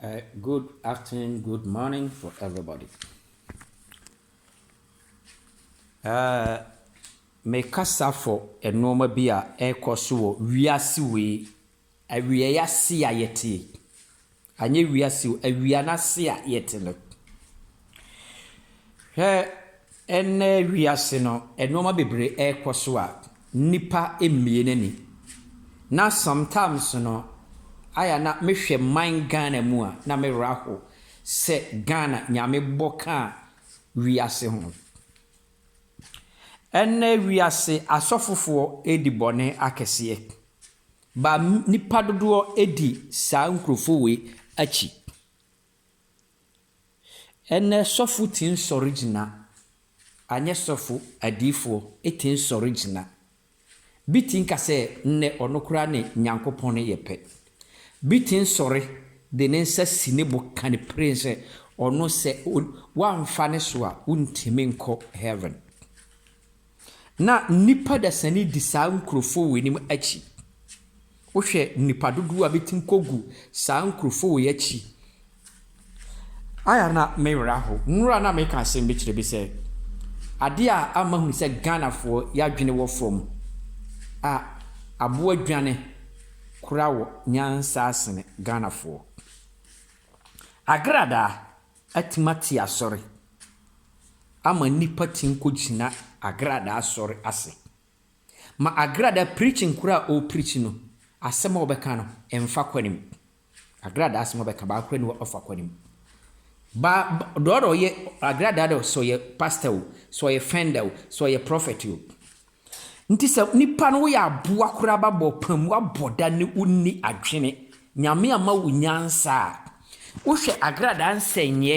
Uh, good afternoon, good morning for everybody. Uh, mekasa for nneɛma bi a ɛrekɔ so wɔ wiase wei awieɛ ase a yɛte Anyɛ wiase o, awia no ase a yɛte no. Hwɛ ɛnnɛ wiase no, nnoɔma bebree rekɔ so a nnipa mmie n'ani. Na sometimes no, ayɛ a na mehwɛ man Ghana mu a, na me werɛ aho sɛ Ghana Nyame bɔ ka wiase ho. Ɛnnɛ wiase, asɔfofoɔ redi bɔne akɛseɛ. Ba nnipa dodoɔ di saa nkurɔfoɔ wei akyi. Ɛnnɛ sɔfo tumi sɔre gyina, anyɛ sɔfo, adiyifoɔ tumi sɔre gyina. Bi tumi ka sɛ nnɛ ɔno koraa ne Nyankopɔn yɛ pɛ. Bi tumi sɔre de ne nsa si ne bo ka no piren sɛ ɔno sɛ woamfa ne so a wontumi nkɔ heaven. Na nnipa dasani di saa nkurofoo wei nom akyi. Wohwɛ nnipa dodoɔ a bɛtumi kɔ gu saa nkurofoo wei akyi a na me werɛ aho. Nnora na meka asem bi kyerɛ bi sɛ adeɛ a ama mahunu sɛ Ghanafoɔ yɛadwene wɔ fam a aboa dwane kora wɔ nyansa asene Ghanafoɔ. Agradaa. Atumi ate asɔre ama nnipa tumi kɔgyina agradaa sɔre ase. Ma agradaa preaching korɔ a ɔrepreach no, asɛm a ɔbɛka no mfa kwane mu. Agradaa asɛm a ɔbɛka baako korɔ nni hɔ a ɔfa kwane mu. Ba, deɛ ɔyɛ agradaa deɛ, sɛ ɔyɛ pastor o, sɛ ɔyɛ fender o, sɛ ɔyɛ prophet o, Nti sɛ nipa no woyɛ aboa koraa ba bɔ pam wabɔ da ne wo nni adwene nyame ama wo nyansa a wo hwɛ agradaa nsɛnyɛ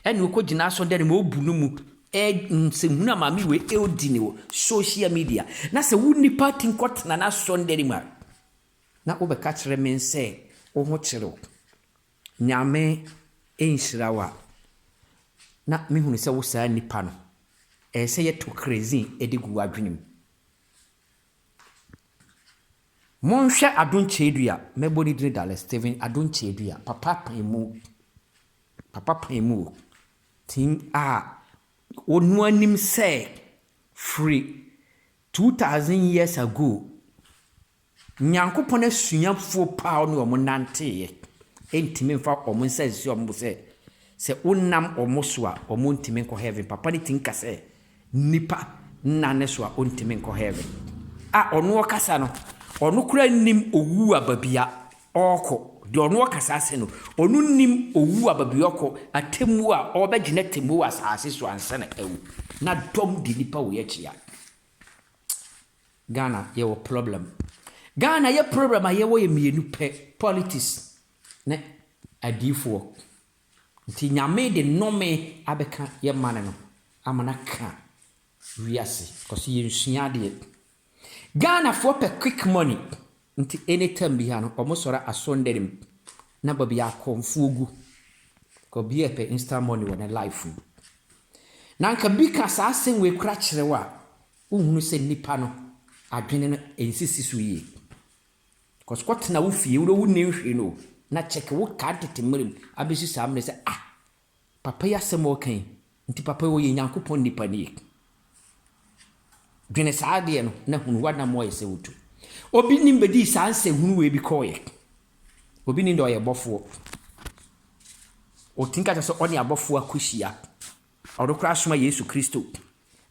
ɛne okɔ gyina asɔ dɛne ma obu no mu nsɛm hunu a maame wei ɛodi ne wɔ social media na sɛ wo nipa ti nkɔ tena na asɔ dɛne mu a na wo bɛka kyerɛ me nsɛ wo ho kyerɛ wo Nyame nhyira wo a na mehunu sɛ wo saa nipa no ɛyɛ sɛ yɛto kerɛzin de gu w'adwene mu. Monhwɛ Ado Nkyɛadua, mɛbɔ ne din Dallas Steven Ado Nkyɛadua, papa apaemu, papa apaemu o, tin a ɔnoa nim sɛ firi 2000 years ago, Nyankopɔn asuafoɔ paa ɔne wɔn nanteeɛ, ɛntumi mfa wɔn nsa nsi wɔn bo sɛ, sɛ wonam wɔn so a, wɔntumi nkɔ Heaven. Papa no tumi ka sɛ, Nnipa nna ne so a, wɔntumi nkɔ Heaven. A ɔno ɔkasa no, ɔno koraa nnim owu a baabi a ɔrekɔ. Deɛ ɔno ɔkasa ase no, ɔno nnim owu a baabi ɔrekɔ, atemmuo a ɔrebɛgye n'atemmuo wɔ asase so ansa na awu. Na dɔm de nnipa wei akyea. Ghana yɛwɔ problem. Ghana yɛ problem a yɛwɔ yɛ mmienu pɛ, politics ne adiifoɔ. Nti Nyame de nnome abɛka yɛ mane no ama no aka wiase cause yɛnsua adeɛ. Ghanafoɔ pɛ quick money nti anytime biara no ɔmo sɔre asɔndane mu na baabi a akɔmfoɔ gu cause obiara pɛ instant money wɔ ne life mu. Na nka bi ka saa asɛm wei koraa kyerɛ wo a Wonhunu sɛ nnipa no adwene no nsisi so yie because kɔtena wo fie wode wonnim hwee no o na check wo car tete mmerɛ mu abɛsi saa mmerɛ sɛ ah papa yi asɛm a ɔka yi nti papa yi ɔyɛ Nyankopɔn nnipa nie dwene saa adeɛ no na hunu w'anam ayɛ sɛ wotu obi nim bɛdii saa nsɛ hunu wei bi kɔɔyɛ obi nim dɛ ɔyɛ bɔfoɔ ɔtumi ka kyɛ sɛ ɔne abɔfoɔ akɔhyia Ɔno koraa soma Yesu Kristo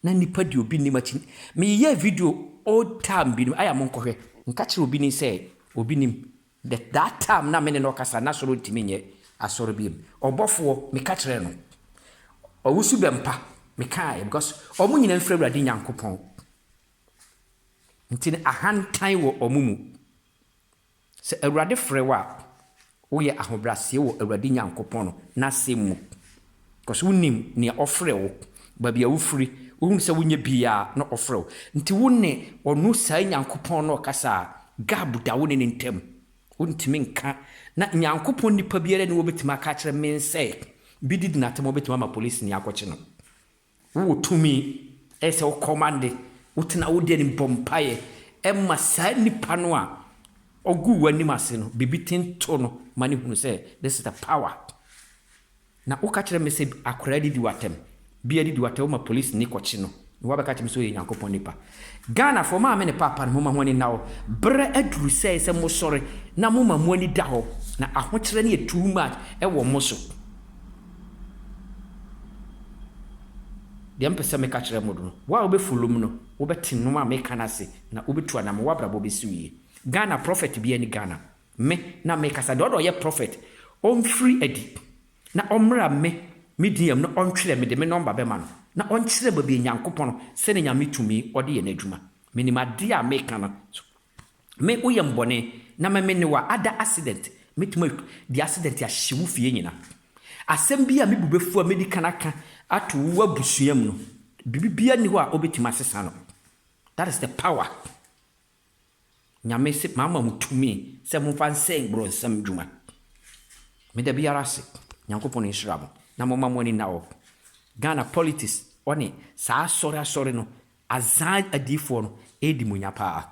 na nipa deɛ obi nim akyi me yeyɛɛ video old time binom aya mo nkɔhwɛ nka kyerɛ obi nim sɛ obi nim the that time na me ne no kasa na soro ntumi nyɛ asɔre biom ɔbɔfoɔ me ka kyerɛ no ɔwusu bɛmpa me kaɛ because ɔmo nyina mfiri awurade nyankopɔn nti no ahantan wɔ ɔmo mu. Sɛ Awurade frɛ wo a, woyɛ ahobrɛaseɛ wɔ Awurade Nyankopɔn n'asɛm mu, cause wonim nea ɔfrɛ wo, baabi a wofiri, wohunu sɛ wonyɛ biaa na ɔfrɛ wo. Nti wo ne ɔno saa Nyankopɔn no ɔkasa a, gab da wo ne no ntam. Wontumi nka, na Nyankopɔn nnipa biara nni hɔ a obetumi aka akyerɛ men sɛ, bedi di no atɛm a obetumi ama polisini akɔkye no. Wowɔ tumi, ɛyɛ sɛ wo kɔmande, wotena wo deɛ nim bɔ mpaeɛ ma saa nipa no a ɔguu w'anim ase no, biribi ten to no ma no hunu sɛ this is the power. Na woka kyerɛ me sɛ akwadaa didi w'atɛm, bia didi w'atɛm, woma polisi ni kɔkye no, na woabɛka kyerɛ me sɛ ɔyɛ Nyankopɔn nipa. Ghanafoɔ, maame ne paapa no, momma ho ani nna hɔ. Berɛ aduru sɛ ɛyɛ sɛ mosɔre na moma mo ani da hɔ, na ahokyerɛ no yɛ too much wɔ mo so. Deɛ mpɛ sɛ meka kyerɛ mo no, wo a wobɛ follow me no, wobɛ te nnoɔma a meka no ase na wo bɛ tu anamɔ, w'abrabɔ bɛ si wo yie. Ghana prophet biara ni Ghana, me na me kasa, deɛ ɔdɔ ɔyɛ prophet, ɔnfiri adi na ɔmmra me me din yam na ɔntwerɛ, mede me number bɛma no na ɔnkyerɛ baabi a Nyankopɔn sɛdeɛ Nyame tumi ɔde yɛ n'adwuma, menim adeɛ a meka no so. me wo yɛ me bɔne na me me ne wa ada accident mɛtumi atwa de accident ahye wo fie nyina asɛm bi a me bu bɛfu a mɛdi kan aka ato wo abusua mu no biribi bia nni hɔ a ɔbɛtumi asesa no that is the power nyame se maama mu tumi sɛ momfa nsɛn borɔnsam dwuma meda biara ase nyankopɔn nhyira mo na moma mo ani na hɔ Ghana politics ɔne saa asɔre asɔre no Azaa adiyifoɔ no ɛredi monya paa.